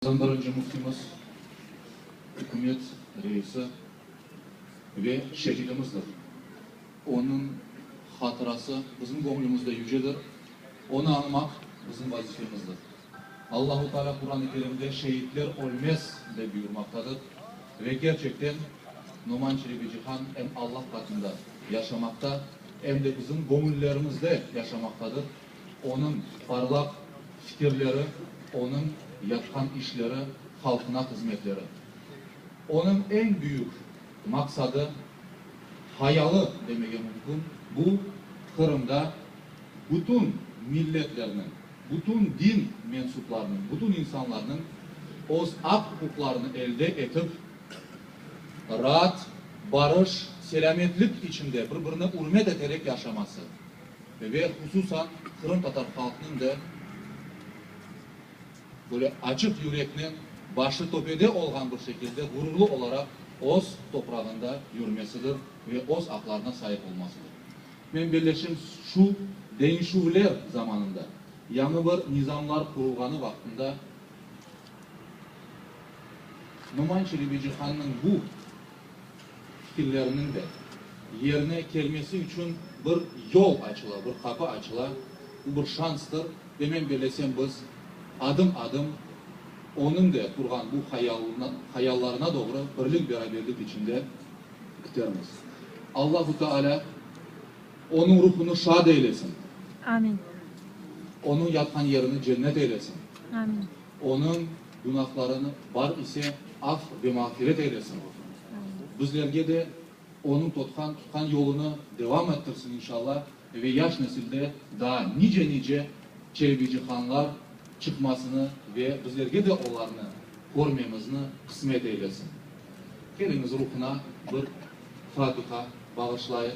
Bizim birinci Müftimiz, Ükümet Reisi ve şehidimizdir. Onıñ hatırası bizim göñlümizde yücedir. Onı añmaq bizim vazifemizdir. Allahu Taalâ Quran-ı Kerimde şehitler ölmez dep buyurmaqtadır ve kerçekten Noman Çelebicihan em Allah qatında yaşamaqta, em de bizim göñüllerimizde yaşamaqtadır. Onıñ parlaq fikirleri, onıñ yapqan işleri, halqına hızmetleri. Onıñ eñ büyük maqsadı, hayalı demege mümkün, bu, Qırımda bütün milletlerniñ, bütün din mensuplarınıñ, bütün insanlarnıñ öz aq-uquqlarını elde etip, raat, barış, selâmetlik içinde, bir-birine ürmet eterek yaşaması. Ve hususan qırımtatar halqnıñ da böyle açıq yüreknen, başı töpede olğan bir şekilde ğururlı olaraq öz toprağında yürmesidir ve öz aqlarına saip olmasıdır. Men belleşim şu deñişüvler zamanında, yañı bir nizamlar qurulğanı vaqtında Noman Çelebicihannıñ bu, Fikirleriniñ de yerine kelmesi içün bir yol açıla, bir qapı açıla, bu bir şanstır. Ve men bellesem biz adım-adım onıñ de qurğan bu hayalına, hayallarına doğru birlik-beraberlik içinde kitermiz. Allahu Teala onıñ ruhunı şad eylesin. Amin. Onıñ yatqan yerini cennet eylesin. Amin. Onıñ günahlarını bar ise af ve mağfiret eylesin, bizlerge de onıñ totqan tutqan yolunı devam ettirsin inşalla ve yaş nesilde daa nice-nice Çelebicihanlar çıqmasını ve bizlerge de olarnı körmemizni qısmet eylesin. Keliñiz ruhuna bir fatiha bağışlayıq.